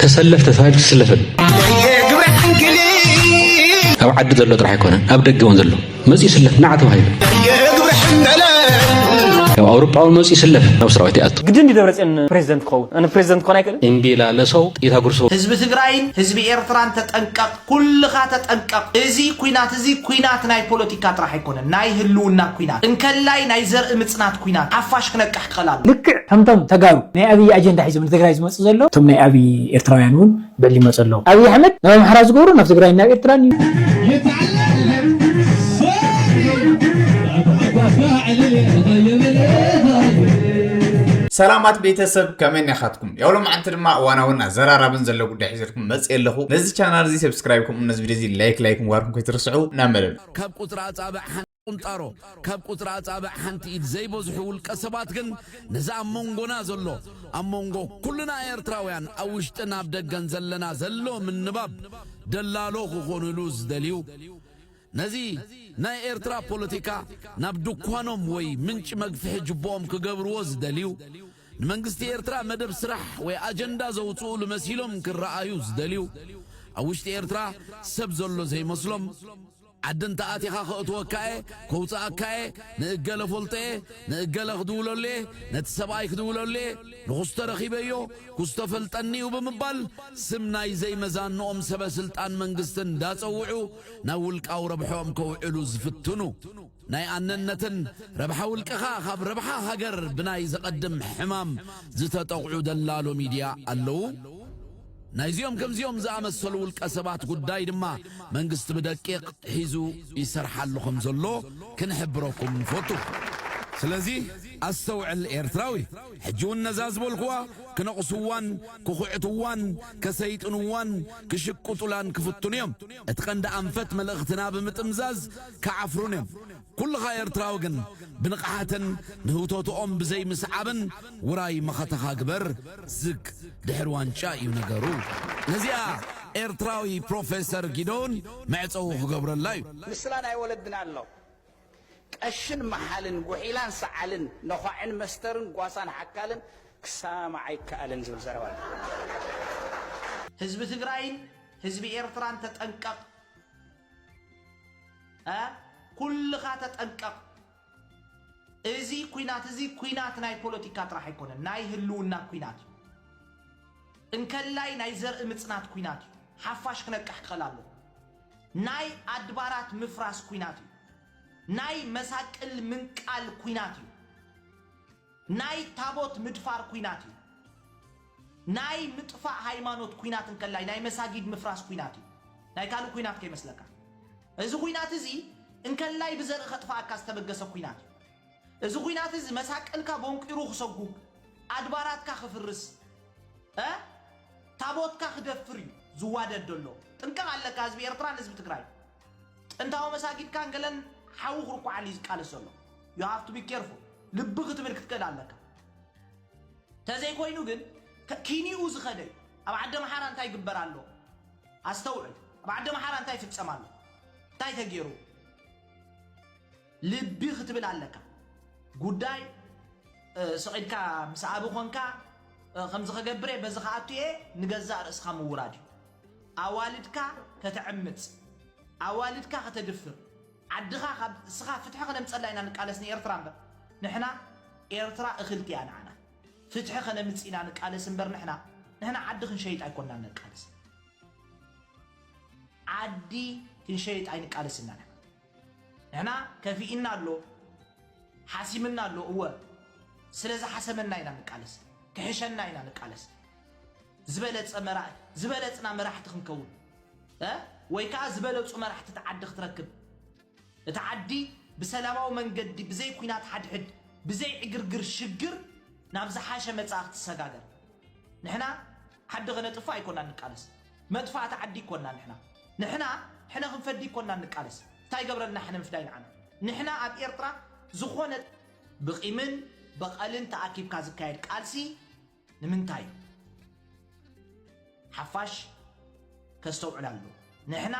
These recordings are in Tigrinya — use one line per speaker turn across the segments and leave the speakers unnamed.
ተሰለፍ ተሳሂብ ትስለፍን ኣብ ዓዲ ዘሎ ጥራሕ ኣይኮነን ኣብ ደገ እውን ዘሎ መፅኡ ይስለፍ ናዕ ተባሂሉ ካብ ኣውሮጳዊ መፅኡ ይስለፍ ናብ ሰራዊት ይኣቱ ግድን ድዩ ደብረፅዮን ፕሬዚደንት
ክኸውን ፕሬዚደንት ክኾን ኣይክእልን እምቢ ኢላ ለሰው ጥይታ
ጉርሰው ህዝቢ ትግራይን
ህዝቢ ኤርትራን ተጠንቀቕ ኩልኻ ተጠንቀቕ እዚ ኩናት እዚ ኩናት ናይ ፖለቲካ ጥራሕ ኣይኮነን ናይ ህልውና ኩናት እንከላይ ናይ ዘርኢ ምፅናት ኩናት ሓፋሽ ክነቅሕ ክኸል ኣለዎ። ልክዕ ከምቶም ተጋሩ
ናይ ኣብይ ኣጀንዳ ሒዞም ንትግራይ ዝመፁ ዘለዉ እቶም ናይ ኣብይ ኤርትራውያን እውን ብዕሊ ይመፁ ኣለዉ። ኣብይ ኣሕመድ ናብ ኣምሓራ ዝገብሮ ናብ ትግራይን ናብ ኤርትራን እዩ።
ሰላማት ቤተሰብ ከመይ ኒኻትኩም። ያው ሎማዓንቲ ድማ እዋናውን ኣዘራራብን ዘሎ ጉዳይ ሒዘልኩም መፅእ ኣለኹ ነዚ ቻናል እዚ ሰብስክራይብ ከምኡ ነዚ ቪድዮ እዚ ላይክ ላይክ ምግባርኩም ከይትርስዑ ናብ መደብ ካብ ቁፅሪ ኣፃብዕ
ሓንቲ ቁንጣሮ ካብ ቁፅሪ ኣፃብዕ ሓንቲ ኢድ ዘይበዝሑ ውልቀ ሰባት ግን ነዚ ኣብ መንጎና ዘሎ ኣብ መንጎ ኩልና ኤርትራውያን ኣብ ውሽጥን ኣብ ደገን ዘለና ዘሎ ምንባብ ደላሎ ክኾኑሉ ዝደልዩ ነዚ ናይ ኤርትራ ፖለቲካ ናብ ድኳኖም ወይ ምንጪ መግፍሒ ጅቦኦም ክገብርዎ ዝደልዩ ንመንግስቲ ኤርትራ መደብ ስራሕ ወይ ኣጀንዳ ዘውጽኡሉ መሲሎም ክረኣዩ ዝደልዩ፣ ኣብ ውሽጢ ኤርትራ ሰብ ዘሎ ዘይመስሎም፣ ዓዲ እንተኣቲኻ ከእትወካ'የ፣ ከውጽኣካ'የ፣ ንእገለ እፈልጦ'የ፣ ንእገለ ክድውለሉ'የ፣ ነቲ ሰብኣይ ክድውለሉ'የ፣ ንኩስቶ ረኺበዮ፣ ኩስቶ ፈልጠኒ'ዩ ብምባል ስም ናይ ዘይመዛንኦም ሰበ ስልጣን መንግስቲ እንዳጸውዑ ናብ ውልቃዊ ረብሕኦም ከውዕሉ ዝፍትኑ። ናይ ኣነነትን ረብሓ ውልቀኻ ካብ ረብሓ ሃገር ብናይ ዘቐድም ሕማም ዝተጠቕዑ ደላሎ ሚድያ ኣለዉ። ናይዚኦም ከምዚኦም ዝኣመሰሉ ውልቀ ሰባት ጉዳይ ድማ መንግስቲ ብደቂቕ ሒዙ ይሰርሓሉ ከም ዘሎ ክንሕብረኩም ንፈቱ። ስለዚ ኣስተውዕል ኤርትራዊ ሕጂ ውን ነዛ ዝበልኩዋ ክነቕስዋን ክኹዕትዋን ከሰይጥንዋን ክሽቅጡላን ክፍትኑ እዮም እቲ ቀንዲ ኣንፈት መልእኽትና ብምጥምዛዝ ክዓፍሩን እዮም ኩልኻ ኤርትራዊ ግን ብንቕሓትን ንህውተትኦም ብዘይ ምስዓብን ውራይ መኸተኻ ግበር ዝግ ድሕሪ ዋንጫ እዩ ነገሩ ነዚኣ ኤርትራዊ ፕሮፈሰር ጊዶን መዕጸዊ ክገብረላ እዩ። ምስላ ናይ ወለድና
ኣሎ ቀሽን መሓልን ጉሒላን ሰዓልን ነዃዕን መስተርን ጓሳን ሓካልን ክሰማማዕ ኣይከኣልን ዝብል ዘረባ ኣሎ። ህዝቢ
ትግራይን ህዝቢ ኤርትራን ተጠንቀቕ ኩልኻ ተጠንቀቕ እዚ ኩናት እዚ ኩናት ናይ ፖለቲካ ጥራሕ ኣይኮነን ናይ ህልውና ኩናት እዩ እንከላይ ናይ ዘርኢ ምጽናት ኩናት እዩ ሓፋሽ ክነቅሕ ክኸል ኣሎ ናይ ኣድባራት ምፍራስ ኩናት እዩ ናይ መሳቅል ምንቃል ኩናት እዩ ናይ ታቦት ምድፋር ኩናት እዩ ናይ ምጥፋእ ሃይማኖት ኩናት እንከላይ ናይ መሳጊድ ምፍራስ ኩናት እዩ ናይ ካልእ ኩናት ከይመስለካ እዚ ኩናት እዚ እንከላይ ብዘርኢ ከጥፋኣካ ዝተበገሰ ኩናት እዩ እዚ ኩናት እዚ መሳቀልካ ቦንቂሩ ክሰጉግ ኣድባራትካ ክፍርስ እ ታቦትካ ክደፍር እዩ ዝዋደድ ዘሎ ጥንቀቅ ኣለካ ህዝቢ ኤርትራን ህዝቢ ትግራይ ጥንታዊ መሳጊድ ካንገለን ሓዊ ክርኩዓሉ እዩ ዝቃለስ ዘሎ you have to be careful ልቢ ክትብል ክትክእል ኣለካ ተዘይኮይኑ ግን ከ- ኪኒኡ ዝኸደ እዩ ኣብ ዓዲ ኣምሓራ እንታይ ይግበር ኣሎ ኣስተውዕል ኣብ ዓዲ ኣምሓራ እንታይ ይፍጸም ኣሎ እንታይ ተገይሩ ልቢ ክትብል ኣለካ ጉዳይ ስቂድካ ምስ ኣቢ ኮንካ ከምዚ ከገብር እየ በዚ ከኣቱ እየ ንገዛእ ርእስካ ምውራድ እዩ ኣዋልድካ ከተዕምጽ ኣዋልድካ ከተድፍር ዓድኻ ካብ እስኻ ፍትሒ ከነምጸላ ኢና ንቃለስ ንኤርትራ እምበር ንሕና ኤርትራ እኽልቲ እያ ንዓና ፍትሒ ከነምጽ ኢና ንቃለስ እምበር ንሕና ንሕና ዓዲ ክንሸይጥ ኣይኮናን ነቃለስ ዓዲ ክንሸይጥ ኣይንቃለስ ኢና ንሕና ንሕና ከፊእና ኣሎ ሓሲምና ኣሎ እወ ስለ ዝሓሰመና ኢና ንቃለስ ክሕሸና ኢና ንቃለስ ዝበለጸ መራ ዝበለጽና መራሕቲ ክንከውን እ ወይ ከዓ ዝበለጹ መራሕቲ እቲ ዓዲ ክትረክብ እቲ ዓዲ ብሰላማዊ መንገዲ ብዘይ ኩናት ሓድሕድ ብዘይ ዕግርግር ሽግር ናብ ዝሓሸ መጻኢ ክትሰጋገር ንሕና ዓዲ ከነጥፍእ ኣይኮናን ንቃለስ መጥፋእቲ ዓዲ ይኮና ንሕና ንሕና ሕነ ክንፈዲ ይኮናን ንቃለስ ታይ ገብረልና ሕነ ምፍዳይ ንዓና ንሕና ኣብ ኤርትራ ዝኮነ ብቂምን በቀልን ተኣኪብካ ዝካየድ ቃልሲ ንምንታይ ሓፋሽ ከስተውዕል ኣለዎ ንሕና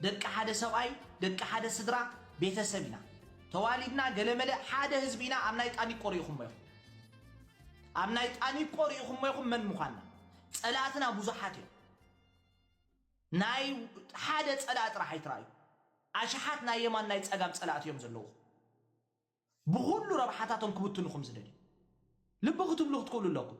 ደቂ ሓደ ሰብኣይ ደቂ ሓደ ስድራ ቤተሰብ ኢና ተዋሊድና ገለመለ ሓደ ህዝቢ ኢና ኣብ ናይ ጣኒቆ ሪኢኹሞ ኢኹም ኣብ ናይ ጣኒቆ ሪኢኹሞ ኢኹም መን ምዃና ጸላእትና ቡዙሓት እዮም ናይ ሓደ ጸላእ ጥራሕ ኣይትራእዩ ኣሽሓት ናይ የማን ናይ ጸጋም ጸላእቲ እዮም ዘለዉኹም ብኹሉ ረብሓታቶም ክብትኑኹም ዝደልዩ ልቢ ክትብሉ ክትክእሉ ኣለኩም።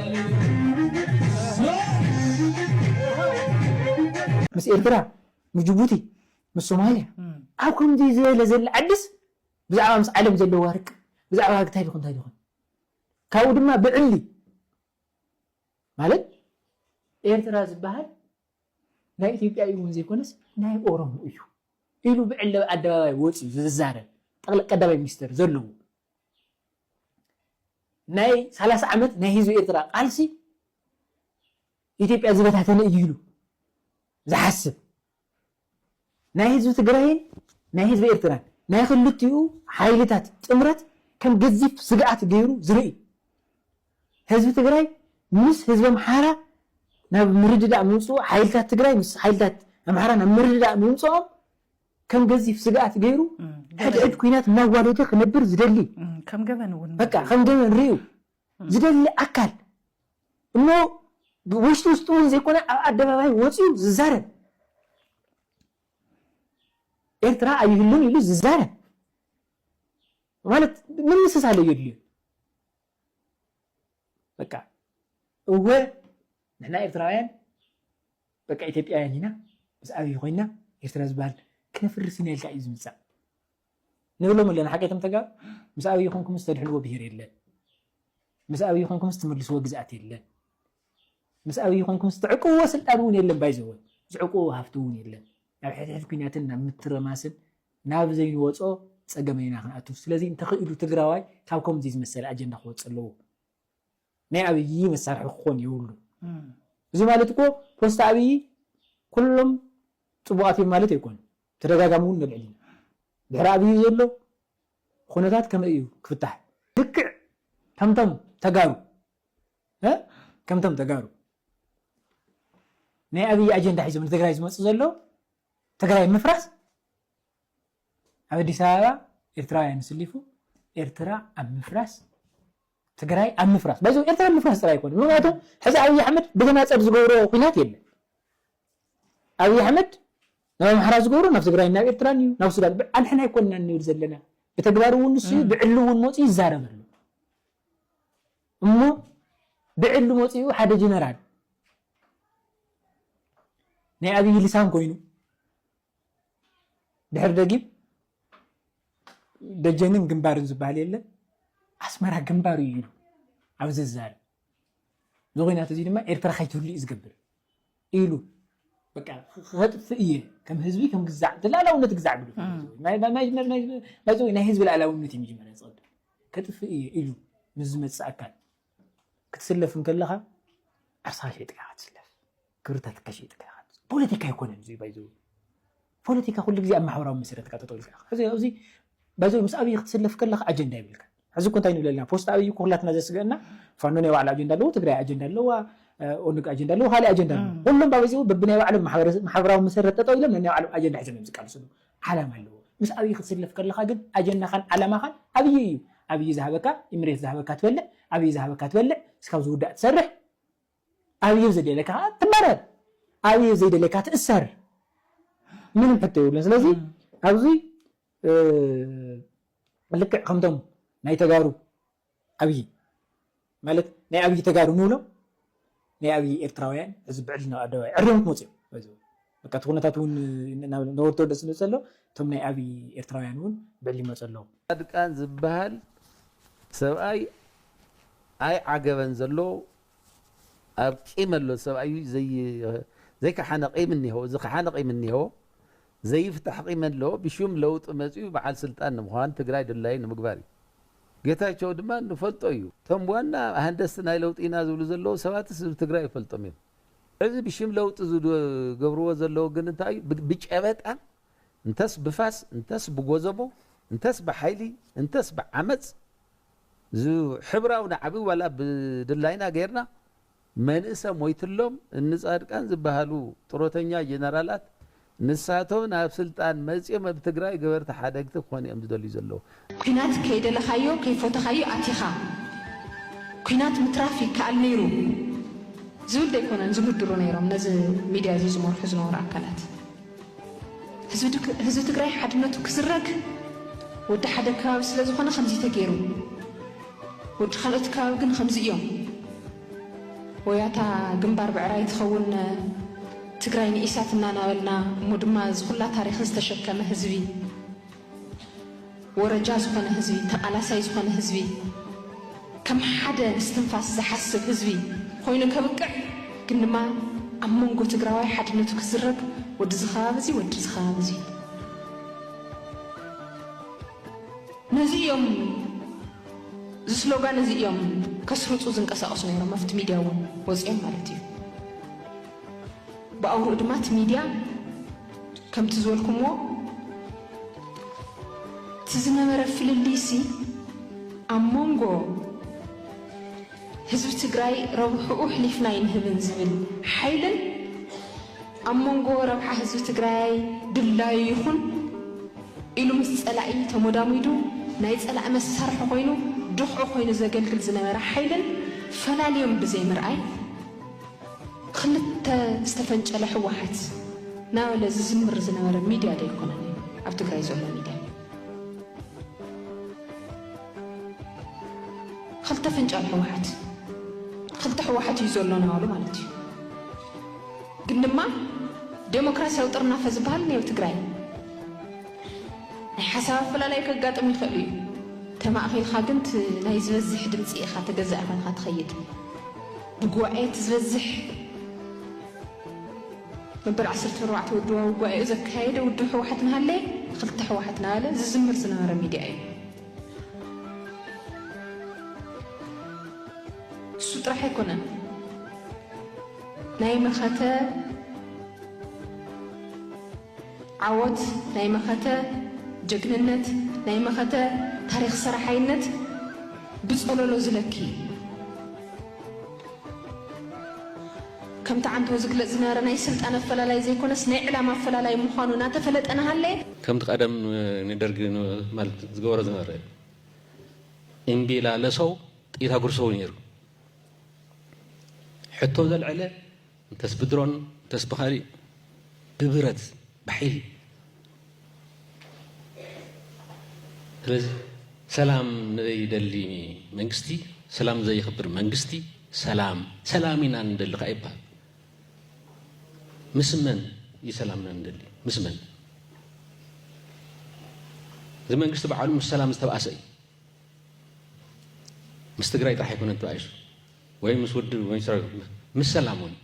ምስ ኤርትራ ምስ ጅቡቲ ምስ ሶማልያ ኣብ ከምዚ ዝበለ ዘለ ዓድስ ብዛዕባ ምስ ዓለም ዘለዋ ርቅ ብዛዕባ እንታይ ዲኹን እንታይ ዲኹን ካብኡ ድማ ብዕሊ ማለት ኤርትራ ዝበሃል ናይ ኢትዮጵያ እዩ እውን ዘይኮነስ ናይ ኦሮሞ እዩ ኢሉ ብዕሊ ኣደባባይ ወፂኡ ዝዛረብ ጠቅለ ቀዳማይ ሚኒስትር ዘለዎ ናይ ሰላሳ ዓመት ናይ ህዝቢ ኤርትራ ቃልሲ ኢትዮጵያ ዝበታተነ እዩ ኢሉ ዝሓስብ ናይ ህዝቢ ትግራይን ናይ ህዝቢ ኤርትራን ናይ ክልቲኡ ሓይልታት ጥምረት ከም ገዚፍ ስግኣት ገይሩ ዝርኢ ህዝቢ ትግራይ ምስ ህዝቢ ኣምሓራ ናብ ምርድዳእ ምምፅኡ ሓይልታት ትግራይ ምስ ሓይልታት ኣምሓራ ናብ ምርድዳእ ምምፅኦም ከም ገዚፍ ስግኣት ገይሩ ሕድሕድ ኩናት እናዋደደ ክነብር ዝደሊ፣ ከም ገበን እውን
በቃ ከም ገበን ርእዩ
ዝደሊ ኣካል እሞ ውሽጢ ውሽጢ እውን ዘይኮነ ኣብ ኣደባባይ ወፂኡ ዝዛረብ ኤርትራ ኣይህሉን ኢሉ ዝዛረብ ማለት ምምስሳል ኣየድልዮን። በቃ እወ ንሕና ኤርትራውያን በቃ ኢትዮጵያውያን ኢና ምስ ኣብይ ኮይና ኤርትራ ዝበሃል ክነፍርስ ኢና ኢልካ እዩ ዝምፃእ ንብሎም ኣለና ሓቂ እቶም ተጋሩ ምስ ኣብይ ኮንኩምስ ተድሕንዎ ብሄር የለን ምስ ኣብይ ኮንኩምስ ትምልስዎ ግዝኣት የለን ምስ ኣብይ ኮንኩምስ ትዕቅብዎ ስልጣን እውን የለን ባይዘወ ዝዕቅብዎ ሃፍቲ እውን የለን ናብ ሕድሕድ ኩናትን ናብ ምትረማስን ናብ ዘይንወጾ ጸገም ኢና ክንኣቱ ስለዚ እንተኺኢሉ ትግራዋይ ካብ ከምዚ ዝመሰለ ኣጀንዳ ክወጽእ ኣለዎ ናይ ኣብይ መሳርሒ ክኾን የብሉን እዚ ማለት እኮ ፖስታ ኣብይ ኩሎም ጽቡቃት እዮም ማለት ኣይኮነን ተደጋጋሚ እውን ነልዕል ኢና ድሕሪ ኣብይ ዘሎ ኩነታት ከመይ እዩ ክፍታሕ ልክዕ ከምቶም ተጋሩ ከምቶም ተጋሩ ናይ ኣብይ ኣጀንዳ ሒዞም ንትግራይ ዝመጽእ ዘሎ ትግራይ ምፍራስ ኣብ ኣዲስ ኣበባ ኤርትራውያን ስሊፉ ኤርትራ ኣብ ምፍራስ ትግራይ ኣብ ምፍራስ ባይዞ ኤርትራ ምፍራስ ጥራይ ኣይኮነ ምክንያቱ ሕዚ ኣብይ ኣሕመድ ብተናፀል ዝገብሮ ኩናት የለን ኣብይ ኣሕመድ ናብ ኣምሓራ ዝገብሮ ናብ ትግራይ ናብ ኤርትራን እዩ ናብ ሱዳን ኣንሕና ኣይኮንና ንብል ዘለና ብተግባር እውን ንሱ እዩ ብዕሊ እውን መፅኡ ይዛረብ ኣሎ እሞ ብዕሊ መጺኡ ሓደ ጅነራል ናይ ኣብይ ልሳን ኮይኑ ድሕሪ ደጊም ደጀንን ግንባርን ዝበሃል የለን ኣስመራ ግንባር እዩ ኢሉ ኣብ ዝዛረብ እዚ ኩናት እዚ ድማ ኤርትራ ከይትህሉ እዩ ዝገብር። ኢሉ በቃ ከጥፍእ እየ ከም ህዝቢ ከም ግዛዕ ላእላውነት ግዛዕ ግዱ ናይ ህዝቢ ላእላውነት እዩ መጀመርያ ዝቐድም ከጥፍእ እየ ኢሉ ምስ ዝመፅእ ኣካል ክትስለፍ እንከለኻ ዓርስኻ ሸይጥካ ክትስለፍ ክብርታትካ ሸይጥካ ፖለቲካ ኣይኮነን እዚ ባይዘ ፖለቲካ ኩሉ ግዜ ኣብ ማሕበራዊ መሰረት ኢካ ጠጠው ኢልካ ኢካ ሕዚ ኣብዚ ባይ ዘ ዌይ ምስ ኣብይ ክትስለፍ ከለካ ኣጀንዳ የብልካን ሕዚ እኮ እንታይ ንብል ኣለና ፖስት ኣብይ እኮ ኩላትና ዘስገእና ፋኖ ናይ ባዕሉ ኣጀንዳ ኣለዎ ትግራይ ኣጀንዳ ኣለዋ ኦነግ ኣጀንዳ ኣለዎ ካልእ ኣጀንዳ ኣለዎ ኩሎም ባይ ዘ ዌይ በብናይ ባዕሎም ማሕበራዊ መሰረት ጠጠው ኢሎም ነናይ ባዕሎም ኣጀንዳ ሒዞም እዮም ዝቃልሱ ኣለዉ ዓላማ ኣለዎ ምስ ኣብይ ክትስለፍ ከለካ ግን ኣጀንዳኻን ዓላማኻን ኣብይ እዩ ኣብይ ዝሃበካ ኢምሬት ዝሃበካ ትበልዕ ኣብይ ዝሃበካ ትበልዕ እስካብ ዝውዳእ ትሰርሕ ኣብዩ ዘደለካ ከኣ ትመረር ኣብዩ ዘይደለካ ትእሰር ምንም ሕቶ የብሉን ስለዚ ኣብዚ ልክዕ ከምቶም ናይ ተጋሩ ኣብዪ ማለት ናይ ኣብዪ ተጋሩ ንብሎም ናይ ኣብዪ ኤርትራውያን እዚ ብዕሊ ናብ ኣደባባይ ዕርዮም ክመፁ እዮም በቃ እቲ ኩነታት እውን ናብ ነበርቲ ወደእ ስለ ዘሎ እቶም ናይ ኣብይ ኤርትራውያን እውን ብዕሊ ይመፁ ኣለው። ፃድቃን ዝብሃል
ሰብኣይ ኣይ ዓገበን ዘሎ ኣብ ቂም ኣሎ ሰብኣዩ ዘይ ከሓነ ቂም እኒሀዎ ዝከሓነ ቂም እኒሀዎ ዘይፍታሕ ቂም ኣሎ ብሹም ለውጢ መፅዩ በዓል ስልጣን ንምዃን ትግራይ ድላዩ ንምግባር እዩ ጌታቸው ድማ ንፈልጦ እዩ እቶም ዋና ሃንደስቲ ናይ ለውጢ ኢና ዝብሉ ዘለው ሰባትስ ህዝቢ ትግራይ ይፈልጦም እዮም እዚ ብሽም ለውጢ ዝገብርዎ ዘለዉ ግን እንታይ እዩ ብጨበጣ እንተስ ብፋስ እንተስ ብጎዘቦ እንተስ ብሓይሊ እንተስ ብዓመጽ ዝሕብራዊ ናዕቢ ዋላ ብድላይና ገርና መንእሰ ሞይትሎም እኒ ጻድቃን ዝብሃሉ ጥሮተኛ ጀነራላት ንሳቶም ናብ ስልጣን መፅዮም ኣብ ትግራይ ገበርቲ ሓደግቲ ክኾኑ እዮም ዝደልዩ ዘለዉ። ኲናት
ከይደለኻዮ ከይፎተኻዮ ኣቲኻ ኲናት ምትራፍ ይከኣል ነይሩ ዝብል ዶ ኣይኮነን ዝምድሩ ነይሮም ነዚ ሚድያ እዚ ዝመርሑ ዝነበሩ ኣካላት። ህዝቢ ትግራይ ሓድነቱ ክዝረግ ወዲ ሓደ ከባቢ ስለዝኾነ ከምዚ ተገይሩ ወዲ ካልኦት ከባቢ ግን ኸምዚ እዮም። ወያታ ግንባር ብዕራይ ትኸውን ትግራይ ንኢሳት እናናበልና እሞ ድማ እዚ ኩላ ታሪኽ ዝተሸከመ ህዝቢ ወረጃ ዝኾነ ህዝቢ ተቃላሳይ ዝኾነ ህዝቢ ከም ሓደ እስትንፋስ ዝሓስብ ህዝቢ ኾይኑ ከብቅዕ ግን ድማ ኣብ መንጎ ትግራዋይ ሓድነቱ ክዝረግ ወዲ እዚ ከባቢ እዚ ወዲ እዚ ከባቢ እዚ ነዚ እዮም እዚ ስሎጋን እዚ እዮም ከስርጹ ዝንቀሳቀሱ ነይሮም ኣብቲ ሚድያ እውን ወጺኦም ማለት እዩ ብኣውርኡ ድማ እቲ ሚድያ ከምቲ ዝበልኩምዎ እቲ ዝነበረ ፍልልይሲ ኣብ መንጎ ህዝቢ ትግራይ ረብሕኡ ኣሕሊፍና ኣይንህብን ዝብል ሓይልን ኣብ መንጎ ረብሓ ህዝቢ ትግራይ ድላዩ ይኹን ኢሉ ምስ ፀላኢ ተሞዳሚዱ ናይ ፀላኢ መሳርሒ ኮይኑ ድኽዒ ኮይኑ ዘገልግል ዝነበረ ሓይልን ፈላልዮም ብዘይምርኣይ ኽልተ ዝተፈንጨለ ህወሓት ናበለ ዝዝምር ዝነበረ ሚድያ ዶ ኣይኮነን ኣብ ትግራይ ዘሎ ሚድያ? ኽልተ ፍንጫል ሕወሓት ኽልተ ሕወሓት እዩ ዘሎና በሉ ማለት እዩ። ግን ድማ ዴሞክራሲያዊ ጥርናፈ ዝበሃል እኒኦ ኣብ ትግራይ። ናይ ሓሳብ ኣፈላላይ ከጋጥም ይኽእል እዩ። ተማእኺልካ ግን እቲ ናይ ዝበዝሕ ድምፂ ኢኻ ተገዛኢ ኾይንኻ ትኸይድ። ብጉባኤ እቲ ዝበዝሕ መበል ዓሰርተ ኣርባዕተ ውድባዊ ጓኤኡ ዘካየደ ውድብ ህወሓት እናሃለየ ንክልተ ህወሓት እናበለ ዝዝምር ዝነበረ ሚድያ እዩ። እሱ ጥራሕ ኣይኮነን ናይ መኸተ ዓወት ናይ መኸተ ጀግንነት ናይ መኸተ ታሪኽ ሰራሓይነት ብፀሎሎ ዝለኪ እዩ። ከምቲ ዓንተው ዝግለጽ ዝነበረ ናይ ስልጣን ኣፈላላይ ዘይኮነስ ናይ ዕላማ ኣፈላላይ ምዃኑ ናተፈለጠ ናሃለየ፣ ከምቲ ቀደም
ንደርጊ ማለት ዝገበሮ ዝነበረ እምቢላለሰው ጥይት ኣጉርሰው ነይሩ ሕቶ ዘልዐለ እንተስ ብድሮን እንተስ ብኻሊእ ብብረት ብሓይሊ ስለዚ ሰላም ንደሊ መንግስቲ ሰላም ዘይኽብር መንግስቲ ሰላም ሰላም ኢና ንደሊ ከዓ ይበሃል ምስ መን እዩ ሰላምና ንደሊ ምስ መን እዚ መንግስቲ በዓሉ ምስ ሰላም ዝተባእሰ እዩ ምስ ትግራይ ጥራሕ ኣይኮነን ተባኢሱ ወይ ምስ ውድብ ወይ ምስ ሰላም እውን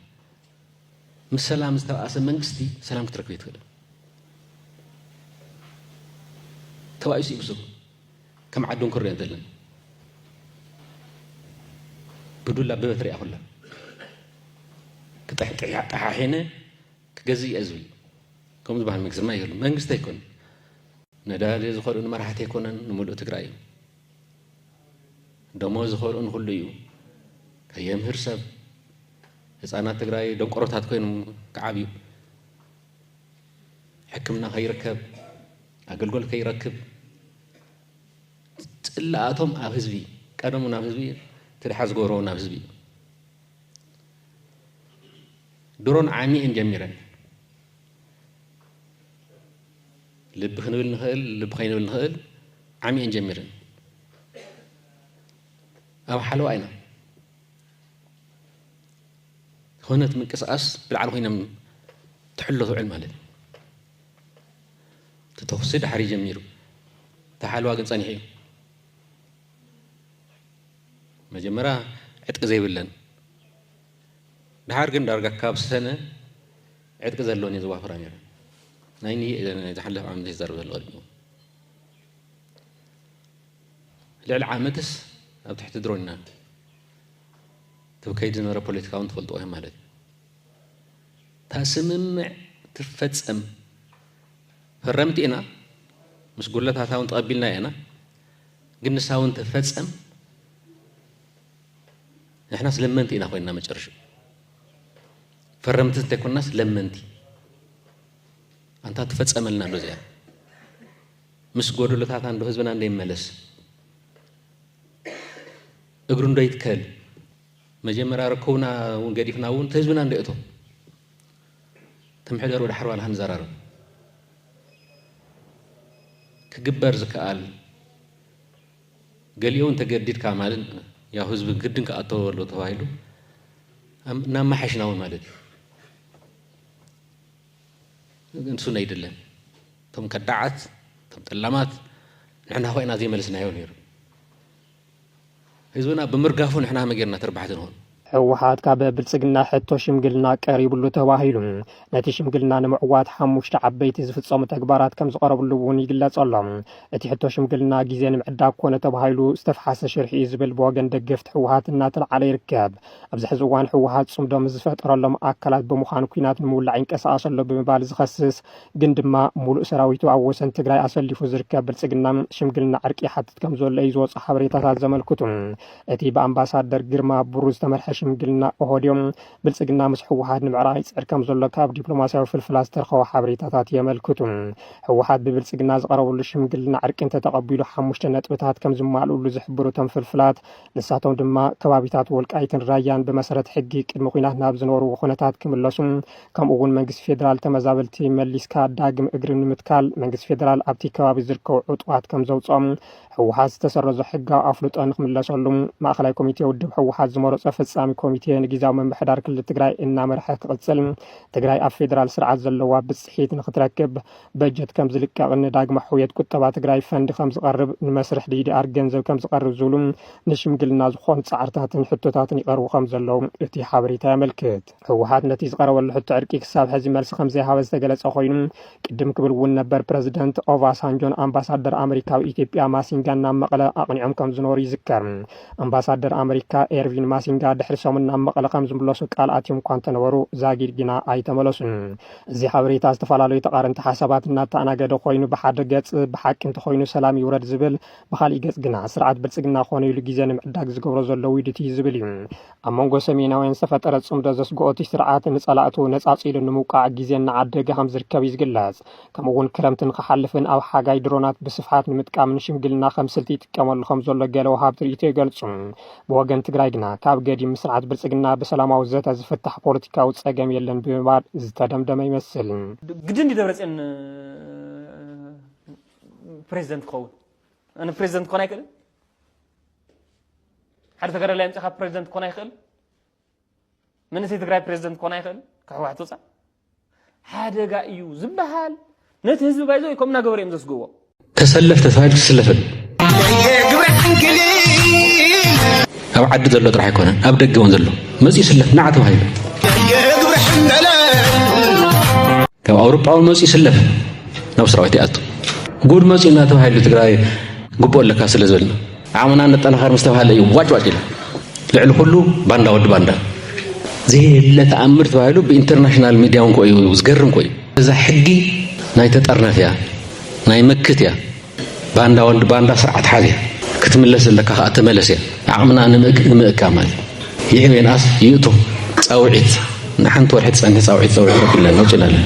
ምስ ሰላም ዝተበኣሰ መንግስቲ ሰላም ክትረክብ ኣይትኽእልን። ተባኢሱ እዩ ብሱሩ። ከም ዓዲ እንኮ ንሪኦ እንተለና ብዱላ ብበትሪ እያ ኩላ ክጥሕጥሕ ጠሓሒነ ክገዝእ እየ ዝብል ከምኡ ዝበሃል መንግስቲ ድማ የሉ መንግስቲ ኣይኮነን ነዳሊ ዝኸልኡ ንመራሕቲ ኣይኮነን ንምሉእ ትግራይ እዩ ደሞ ዝኸርኡ ንኹሉ እዩ ከየምህር ሰብ ህፃናት ትግራይ ደንቆሮታት ኮይኖም ክዓብዩ ሕክምና ከይርከብ ኣገልግሎት ከይረክብ ፅላኣቶም ኣብ ህዝቢ ቀደሙ ናብ ህዝቢ ትድሓ ዝገብሮ ናብ ህዝቢ እዩ ድሮን ዓሚኤን ጀሚረን ልቢ ክንብል ንኽእል ልቢ ከይንብል ንኽእል ዓሚየን ጀሚረን ኣብ ሓለዋ ኢና ዝኾነት ምንቅስቓስ ብላዕሊ ኮይኖም ትሕሎ ትውዕል ማለት እዩ እቲ ተኹሲ ድሓር ጀሚሩ እቲ ሓለዋ ግን ፀኒሑ እዩ መጀመርያ ዕጥቂ ዘይብለን ድሓር ግን ዳርጋ ካብ ሰነ ዕጥቂ ዘለወን እየ ዘዋፍራ ነይረ ናይ ንየ ናይ ዝሓለፈ ዓመት እየ ዝዛረብ ዘሎ ቀዲሙ ልዕሊ ዓመትስ ኣብ ትሕቲ ድሮን ኢና ክብ ከይዲ ዝነበረ ፖለቲካ እውን ትፈልጥዎ እዮም ማለት እዩ እታ ስምምዕ ትፈፀም ፈረምቲ ኢና ምስ ጉለታታ እውን ተቐቢልና ኢና ግን ንሳ እውን ትፈፀም ንሕናስ ለመንቲ ኢና ኮይንና መጨረሽኡ ፈረምቲ እንተይኮናስ ለመንቲ ኣንታ ትፈፀመልና ዶ እዚኣ ምስ ጎደሎታት እንዶ ህዝብና እንዶ ይመለስ እግሩ እንዶ ይትከል መጀመርያ ርከቡና እውን ገዲፍና እውን ተህዝብና እንዶ እቶ ተምሕደር ወደ ሓርባ ልሃን ዘራርብ ክግበር ዝከኣል ገሊኦም ተገዲድካ ማለት ያው ህዝቢ ግድን ክኣተዎ ኣሎ ተባሂሉ እናመሓሽናዊ ማለት እዩ ንሱ ነይድለን እቶም ከዳዓት እቶም ጠላማት ንሕና ኮይና ዘይመለስናዮ ነይሩ ህዝብና ብምርጋፉ ንሕና መጌርና ተርባሕቲ ንኾን ህወሓት ካብ
ብልፅግና ሕቶ ሽምግልና ቀሪብሉ ተባሂሉ ነቲ ሽምግልና ንምዕዋት ሓሙሽተ ዓበይቲ ዝፍፀሙ ተግባራት ከም ዝቐረብሉ እውን ይግለፅ ኣሎ። እቲ ሕቶ ሽምግልና ግዜ ንምዕዳግ ኮነ ተባሂሉ ዝተፍሓሰ ሽርሒ እዩ ዝብል ብወገን ደገፍቲ ህወሓት እናተልዓለ ይርከብ። ኣብዚ ሕዚ እዋን ህወሓት ፅምዶ ምስ ዝፈጠረሎም ኣካላት ብምዃን ኩናት ንምውላዕ ይንቀሳቐስ ኣሎ ብምባል ዝኸስስ ግን ድማ ሙሉእ ሰራዊቱ ኣብ ወሰን ትግራይ ኣሰሊፉ ዝርከብ ብልፅግና ሽምግልና ዕርቂ ይሓትት ከም ዘሎ እዩ ዝወፁ ሓበሬታታት ዘመልክቱ። እቲ ብኣምባሳደር ግርማ ብሩ ዝተመርሐ ሽምግልና ኦሆድዮ ብልፅግና ምስ ህወሓት ንምዕራቕ ይፅዕር ከም ዘሎ ካብ ዲፕሎማስያዊ ፍልፍላት ዝተረኸቡ ሓበሬታታት የመልክቱ። ህወሓት ብብልፅግና ዝቐረበሉ ሽምግልና ዕርቂ እንተተቐቢሉ ሓሙሽተ ነጥብታት ከም ዝማልኡሉ ዝሕብሩ እቶም ፍልፍላት ንሳቶም ድማ ከባቢታት ወልቃይትን ራያን ብመሰረት ሕጊ ቅድሚ ኩናት ናብ ዝነበሩ ኩነታት ክምለሱ ከምኡ እውን መንግስቲ ፌዴራል ተመዛበልቲ መሊስካ ዳግም እግሪ ንምትካል መንግስቲ ፌዴራል ኣብቲ ከባቢ ዝርከቡ ዕጡቓት ከም ዘውፅኦም ህወሓት ዝተሰረዞ ሕጋዊ ኣፍልጦ ንክምለሰሉ ማእኸላይ ኮሚቴ ውድብ ህወሓት ዝመረፆ ፈፃሚ ኮሚቴ ንጊዜያዊ ምምሕዳር ክልል ትግራይ እናመርሐ ክቕፅል ትግራይ ኣብ ፌዴራል ስርዓት ዘለዋ ብፅሒት ንክትረክብ በጀት ከም ዝልቀቕን ንዳግማ ሕውየት ቁጠባ ትግራይ ፈንድ ከም ዝቐርብ ንመስርሕ ዲዲኣር ገንዘብ ከም ዝቐርብ ዝብሉ ንሽምግልና ዝኾኑ ፃዕርታትን ሕቶታትን ይቐርቡ ከም ዘለዉ እቲ ሓበሬታ የመልክት። ህወሓት ነቲ ዝቐረበሉ ሕቶ ዕርቂ ክሳብ ሕዚ መልሲ ከምዘይሃበ ዝተገለጸ ኮይኑ ቅድም ክብል እውን ነበር ፕረዚደንት ኦቫሳንጆን ኣምባሳደር ኣመሪካ ኣብ ኢትዮጵያ ማሲንጋን ናብ መቐለ ኣቕኒዖም ከም ዝነበሩ ይዝከር። ኣምባሳደር ኣመሪካ ኤርቪን ማሲንጋ ድሕሪ ሰሙን ናብ መቐለ ከም ዝምለሱ ቃል ኣትዮም እኳ እንተነበሩ ዛጊድ ግና ኣይተመለሱን። እዚ ሓበሬታ ዝተፈላለዩ ተቓረንቲ ሓሳባት እናተኣናገደ ኮይኑ ብሓደ ገጽ ብሓቂ እንተኮይኑ ሰላም ይውረድ ዝብል፣ ብካሊእ ገጽ ግና ስርዓት ብልጽግና ኮነ ኢሉ ግዜ ንምዕዳግ ዝገብሮ ዘሎ ውዲት እዩ ዝብል እዩ። ኣብ መንጎ ሰሜናውያን ዝተፈጠረ ጽምዶ ዘስግኦ እቲ ስርዓት ንጸላእቱ ነጻጺሉ ንምውቃዕ ግዜ እናዓደገ ከም ዝርከብ እዩ ዝግለጽ። ከምኡ እውን ክረምቲ ንክሓልፍን ኣብ ሓጋይ ድሮናት ብስፍሓት ንምጥቃምን ሽምግልና ከም ስልቲ ይጥቀመሉ ከም ዘሎ ገለ ወሃብቲ ርእይቶ ይገልጹ። ብወገን ትግራይ ግና ካብ ገዲም ምስ ስርዓት ብልጽግና ብሰላማዊ ዘተ ዝፍታሕ ፖለቲካዊ ጸገም የለን ብምባል ዝተደምደመ ይመስል። ግድን ድዩ ደብረፅዮን
ፕሬዚደንት ክኸውን? ፕሬዚደንት ክኾን ኣይክእልን? ሓደ ተጋዳላይ ኣምፂኻ ፕሬዚደንት ክኾን ኣይኽእል መንእሰይ ትግራይ ፕሬዚደንት ክኾን ኣይኽእል ከሕዋሕት ወፃእ ሓደጋ እዩ ዝበሃል ነቲ ህዝቢ ባይዞ ከምና ገበረ እዮም ዘስግዎ ተሰለፍ ተሳሂል
ትስለፍን ኣብ ዓዲ ዘሎ ጥራሕ ኣይኮነን ኣብ ደገ እውን ዘሎ መፅኡ ይስለፍ ናዓ ተባሂሉ ካብ ኣውሮጳ እውን መፅኡ ይስለፍ ናብ ሰራዊት ይኣቱ ጉድ መፅኡ እናተባሂሉ ትግራይ ግቡእ ኣለካ ስለ ዝበልና ዓቕምና ነጠናኸር ምስ ተባህለ እዩ ዋጭ ዋጭ ኢላ። ልዕሊ ኩሉ ባንዳ ወዲ ባንዳ ዘየለ ተኣምር ተባሂሉ ብኢንተርናሽናል ሚድያ እውን ኮ እዩ ዝገርም ኮ እዩ። እዛ ሕጊ ናይ ተጠርነፍ እያ፣ ናይ መክት እያ፣ ባንዳ ወዲ ባንዳ ስርዓት ሓዝ እያ። ክትምለስ ዘለካ ከዓ ተመለስ እያ። ዓቕምና ንምእካ ማለት ይዕብ የንኣስ ይእቱ ፃውዒት ንሓንቲ ወርሒ ትፀንሒ ፃውዒት ፀውዒት ረኪብና ነውፅና ኣለና